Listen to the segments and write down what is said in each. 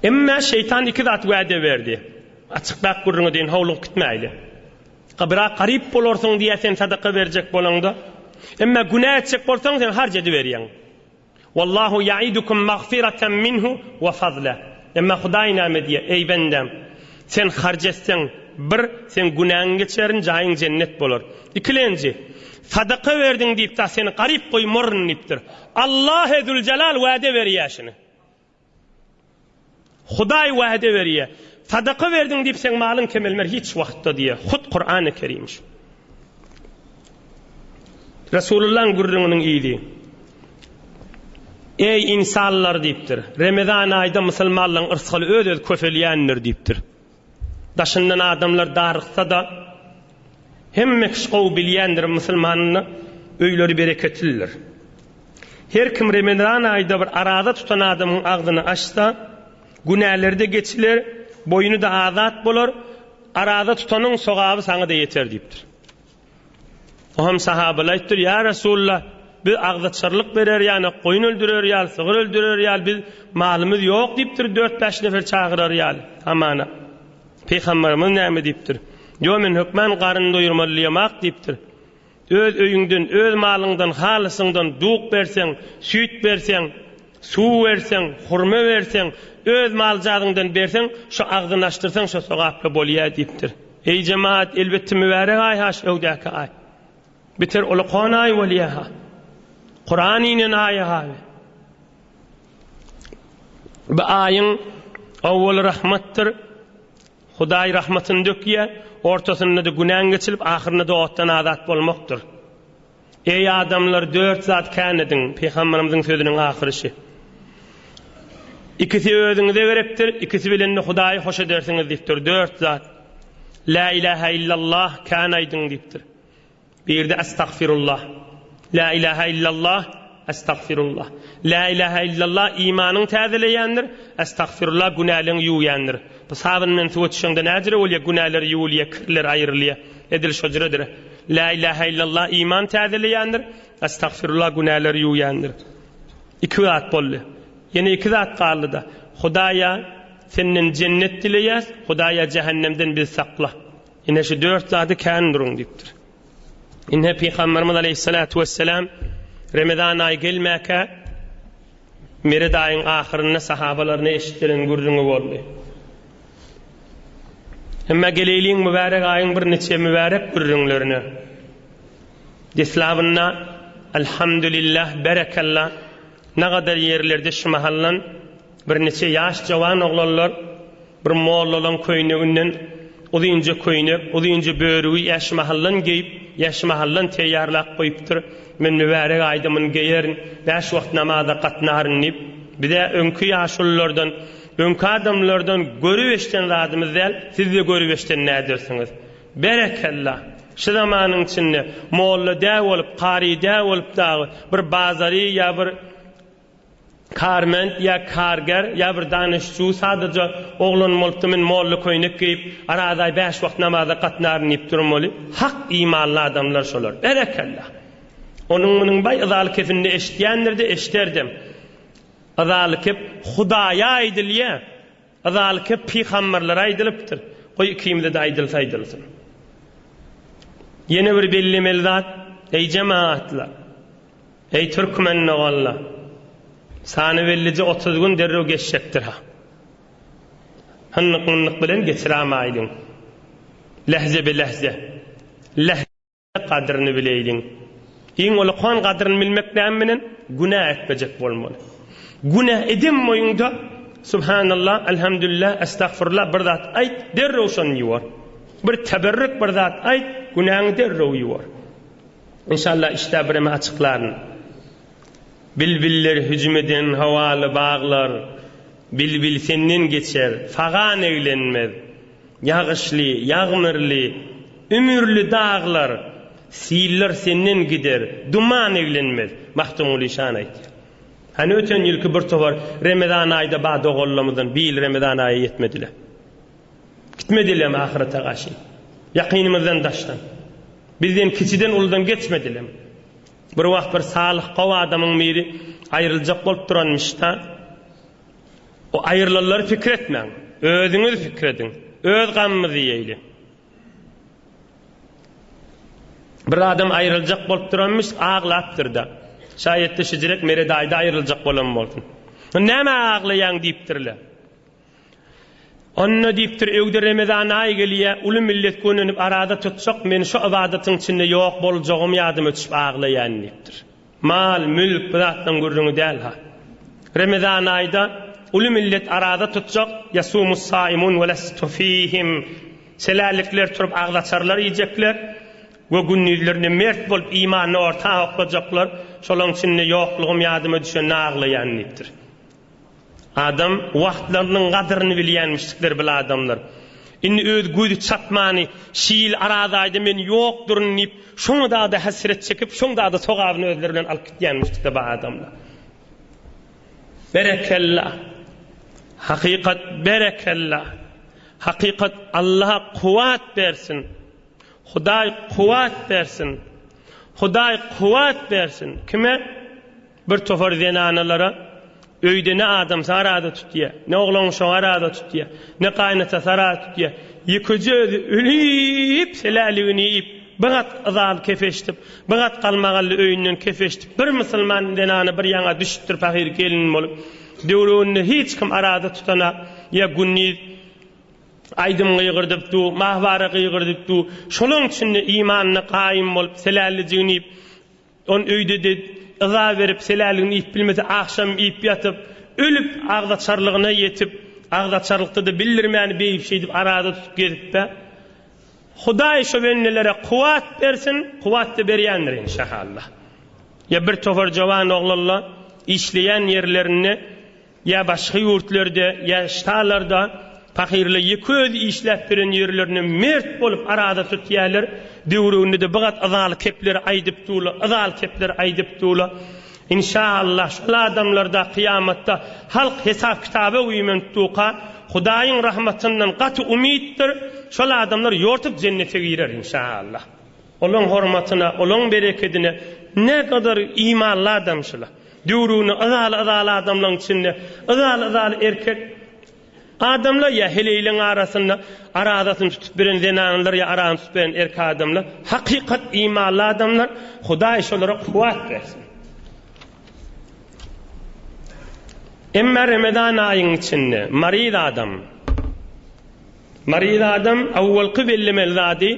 Emmä şeýtan iki zat wäde berdi. Açykrak gürrüňi deýin, howlugyp gitmäýli. Gabra garyp bolarsyň diýýär sen sadaka berjek bolaňda. Emmä günä etjek bolsaň sen harç ediberýäň. Wallahu ya'idukum magfiratan minhu wa fazla. Emmä Hudaý näme diýýär, eý bendäm, sen harç etseň, bir, seň günäňi geçerin, jaýyň jennet bolar. Ikilenji, sadaka berdiň diýip-de seni garyp goýmaryn diýipdir. Allahe Züljelal wäde berýär şuny. Hudaý wäde berýär. Sadaka berdiň diýip seň malyň kemelmer hiç wagtda diýýär. Hut Kurany Kerim şu. Resulullahyň gürrüňiniň yzy. Eý ynsanlar diýipdir. Remezan aýda musulmanlaryň yrsgaly öz-öz köpelýändir diýipdir. Daşyndan adamlar daryksa-da, hemme kişi gowy bilýändir, musulmanyň öýleri bereketlidir. Her kim remezan aýda bir araza tutan adamyň agzyny açsa, günäleri-de geçiler, boýny-da azat bolar, araza tutanyň sogaby saňa-da ýeter diýipdir. O hem sahabaly aýtdyr, Ýa Resulallah, biz agzaçarlyk berer ýaly, goýun öldürer ýaly, sygyr öldürer ýaly biz malymyz ýok diýipdir, dört-bäş nefer çagyrar ýaly, hamana, Pygamberimiz näme diýipdir? Ýo men hökman garyn doýurmalyýemak diýipdir. Öz öýüňden, öz malyňdan, halysyňdan duk berseň, süýt berseň, Suw berseň, hurma berseň, öz maljadyňdan berseň, şu agzyny açdyrsaň şo sogaply bolýa diýipdir. Eý jemaat, elbetde mübärek aý-ha şu öwdäki aý. Biter uly kon aý bolýa-ha. Kuran inen aý-ha we bu aýyň owwaly rahmatdyr, Hudaý rahmatyny dökýä, ortasynda-da günäň geçilip, ahyrynda-da otdan azat bolmakdyr. Eý adamlar dört zat kän ediň, Pygamberimiziň sözüniň ahyryşy. Ikisi özüňize gerekdir, ikisi bilen-de Hudaýy hoş edersiňiz diýipdir. Dört zat. Lä ilähä illallah kän aýdyň diýipdir. Birde Estagfirullah. Lä ilähä illallah. Estagfirullah. Lä ilähä illallah imanyňy täzeleýändir, estagfirullah günäleňi ýuwýandyr. Bu sabyn bilen suwa çüşeňde näjire bolýa günäler ýuwulýa kirler aýrylýa edil şojredir. Lä ilähä illallah iman täzeleýändir, estagfirullah günäler ýuwýandyr. Iki zat boldy. Ýene iki zat galdyda. Hudaýa senden jennet dileýäs, Hudaýa jähennemden bizi sakla. Ine şu dört zady kän duruň diýipdir. Ine Pygamberimiz Aleyhissalatu vesselam Remezan aýy gelmäkä Mered aýyň ahyrynda sahabalaryna eşitdiren gürrüňi boldy. Emma geleýliň mübärek aýyň bir niçe mübärek gürrüňlerine. Deslabynda Elhamdülillah berekallah nagadar ýerlerde şu mahallan Birniçe ýaş jowan oglanlar bir mollalaň köýneginden uzynja köýnek, uzynja börügi ýaşmahaldan geýip, ýaşmahaldan teýýarlap goýupdyr. Men mübärek aýda muny geýerin, bäş wagt namaza gatnaryn diýip, biz-ä öňki ýaşululardan, öňki adamlardan görüp eşden zadymyz däl, siz-de görüp eşden nädersiňiz? Berekella! Şu zamanyň içinde molla dä bolup, kary dä bolup dagy bir bazary ýa bir Karbent ýa karger ýa bir danyşçu sadaja oglan bolupdy men molla köýnek geýip arazaý bäş wagt namaza gatnaryn diýip durmaly hak imanly adamlar şolar berekella onuň munuň baý yzaly kepinde eşitýändirde eşiderdem yzaly kep hudaýa aýdylýa. Yzalke pygamberlere aýdylypdyr, goý ikimize-de aýdylsa aýdylsyn. Ýene bir bellemeli zat, eý jemagatlar, eý türkmen doganlar, sany bellije otuz gün derrew geçjekdir-ha. Hyndyk-myndyk bilen geçiramaýlyň. Lehze be lehze. Leh. Gadryny bileýliň. Iň ulukan gadryny bilmek näme bilen? Günä etmejek bolmaly. Günä edemmoýuňda, Subhanallah, Elhamdülillah, Estagfurullah bir zat aýt, derrew şony ýuwar. Bir teberrük bir zat aýt, günäňi derrew ýuwar. Inşallah işdä bireme açyklaryn. Bilbiller hüjüm eden howaly baglar, Bilbil senden geçer, fagan eglenmez. Ýagyşly, ýagmyrly, ümürli daglar, siller senden gider, duman eglenmez, Magtymguly şany aýtýar. Hany öten ýylky bir towar Remezan aýda ba doganlarymyzdan bi ýyl Remezan aýy ýetmedile. Gitmedilem ahyrete gaşy. Ýakynymyzdan daşdan. Bizden kiçiden uludan geçmedilem. Bir wagt bir salyh gowy adamyň biri aýryljak bolup duranmyşda. O aýrylanlary pikir etmäň. Özüňiz pikir ediň. Öz gamymyzy iýeýli. Bir adam aýryljak bolup duranmyş, aglapdyr-da. Şaýatda şijirek Mere daýy-da aýryljak bolan bolsun. Nämä aglaýaň diýipdirler. Onda diýipdir, öýde Remezan aýy gelýä, uly millet gönenip arada tutjak, men şu ybadatyň içinde ýok boljagym ýadyma düşüp aglaýan diýipdir. Mal, mülk bu zatlaryň gürrüňi däl-ha. Remezan aýda uly millet araza tutjak, ýasumus-saimun we lestu fihim, Selällikler turup agzaçarlar iýjekler we gündizlerinde mert bolup imanyny orta oklajaklar, şolaryň içinde ýoklugym ýadyma düşende aglaýan diýipdir. Adam wagtlarynyň gadyryny bilýänmişdikler bil adamlar. Indi öz gözi çatmany şi ýyl araz aýda men ýokduryn diýip şoňa dagda hesret çekip şoň dagda sogabyny özleri bilen alyp gitýänmişdikler ba adamlar. Berekella. Hakykat berekella. Hakykat Allaha kuwat bersin. Hudaý kuwat bersin. Hudaý kuwat bersin. Kime? Bir topar zenanalara öýde ne adamsy arada tutýa, ne oglanuşagy arada tutýa, ne gaýynatasy arada tutýa, ýekeje özi ölüp, seläligini iýip, bir gat yzaly kefeşdip, bir gat galmagally öýünden kefeşdip, bir musulman zenany bir ýaňa düşüpdir pahyr gelin bolup, döwrebinde hiç kim arada tutana ýa gündiz aýdym gygyrdyp du, mahwara gygyrdyp du, şolaň üçin-de imanyna gaýym bolup, selälijigini iýip, Ol öýde-de yza berip, seläligini iýip bilmese, agşam iýip ýatyp, ölüp, agzaçarlygyna ýetip, agzaçarlykda-da bildirmän, beýip-şeýdip arada tutup gezip-ä. Hudaý şo bennelere kuwwat bersin, kuwwat-da berýändir enşahalla. Ýa bir topar jowan oglanla işleýän ýerlerinde, Ýa başga ýurtlarda, ýa ştalarda pahyrlar ýeke özi işläp beren ýerlerine mert bolup araza tutýärler. Döwrüginde-de bigat yzaly kepler aýdyp durlar, yzaly kepler aýdyp durlar. Inşaallah, şol adamlar-da kyýamatda halk hesap-kitaba güýmenipduka, Hudaýyň rahmatyndan gaty umytdyr, şol adamlar ýortup jennete girer, inşaallah. Olaň hormatyna, olaň berekedine näkadar imanly adam şula. Döwrüni yzaly-yzaly adamlaň içinde, yzaly-yzaly erkek adamlar ýa heleýleň arasynda arazasyny tutup biren zenanlar ýa aragyny tutup beren erkek adamlar hakykat imanly adamlar, Hudaý şolara kuwwat bersin. Emma Remezan aýyň içinde maryz adam, maryz adam awwalky bellemeli zady,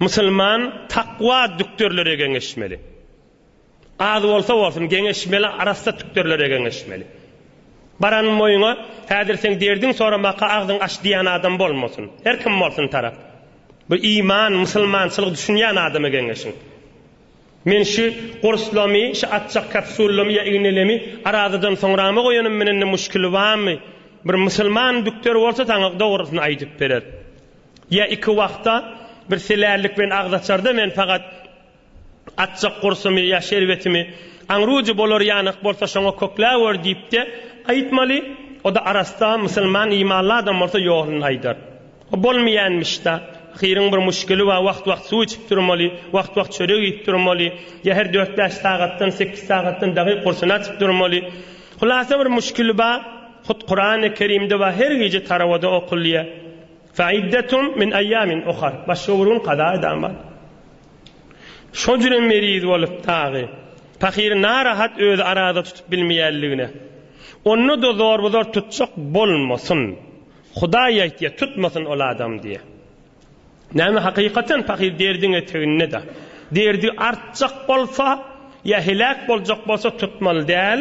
Musulman takwa dükderlere geňeşmeli. Az bolsa bolsun geňeşmeli arassa tükderlere geňeşmeli. Baran moýuňa häzir seň derdiň soramaka agzyň aç diýän adam bolmasyn. Her kim bolsun tarap. Bir iman, musulmançylyk düşünýän adama geňeşiň. Men şu gurslamy, şu atjak kapsullamy ýa ignelemi arazadan soňrama goýanym menen-de muşkili barmy? Bir musulman dükder bolsa saňa dogrusyny aýdyp berer. Ýa iki wagta bir selällik bilen agzaçarda men pagat atjak gursumy ýa şerbetimi aňrujy bolar ýanyk bolsa şoňa kökläwer diýip-de aýtmaly, o-da arassa, musulman, imanly adam bolsa ýoluny aýdar. O bolmaýanmyş-da, ahyryň bir muşkili bar, wagt-wagt suw içip durmaly, wagt-wagt çörek iýip durmaly, ýa her dört-bäş sagatdan, sekiz sagatdan dagy gursuny açyp durmaly. Hulasa bir muşkili bar, hut Kurany Kerimde bar, her gije tarawada okulýar. Fa'iddetum min eýýamin uhar. Başga bir gün kaza edan bar. Şo jünem meriz bolup dagy, pahyry narahat özi araza tutup bilmeýänligine, onda-da zorbuzor tutjak bolmasyn. Hudaý aýtýa, tutmasyn ol adam diýe. Näme, hakykaten pahyr derdiň eteginde-da. Derdi artjak bolsa, ýa heläk boljak bolsa tutmaly däl.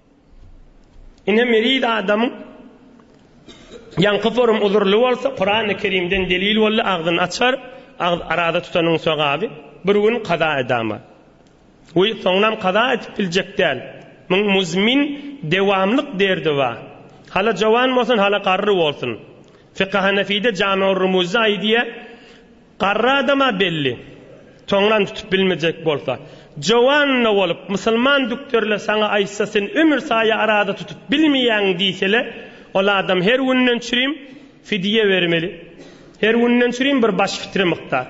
Ine meriz adamyň ýaňky forum uzurly bolsa Kurany kerimden delil boldy agzyn açar agz araza tutanyň sogaby bir gün kaza edama we soňnam kaza edip biljek däl muň muzmin dewamlyk derdi ba hala jowan bolsun hala garry bolsun fika hanafide jami ur rumuzda aýdýa Garry adam-a belli. Soňram tutup bilmejek bolsa. Jowanna bolup, musulman dükderler saňa aýtsa, sen ömür saýa araza tutup bilmeýäň diýsele, ol adam her günden çürim fidýe bermeli. Her günden çürim bir baş fitre mukdar.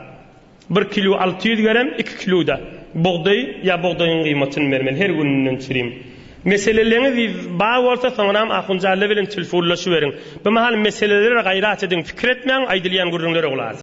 Bir kilo alty ýüz gerem, iki kilo-da bugdaý ýa bugdaýyň gyýmatyny bermeli, her günden çürim. Meseleleňiz bar bolsa, soňram ahunjalla bilen tilfunlaşyberiň. Bimahal meseleleri gaýrat ediň, pikir etmäň, aýdylýan gürrüňlere gulak asyň.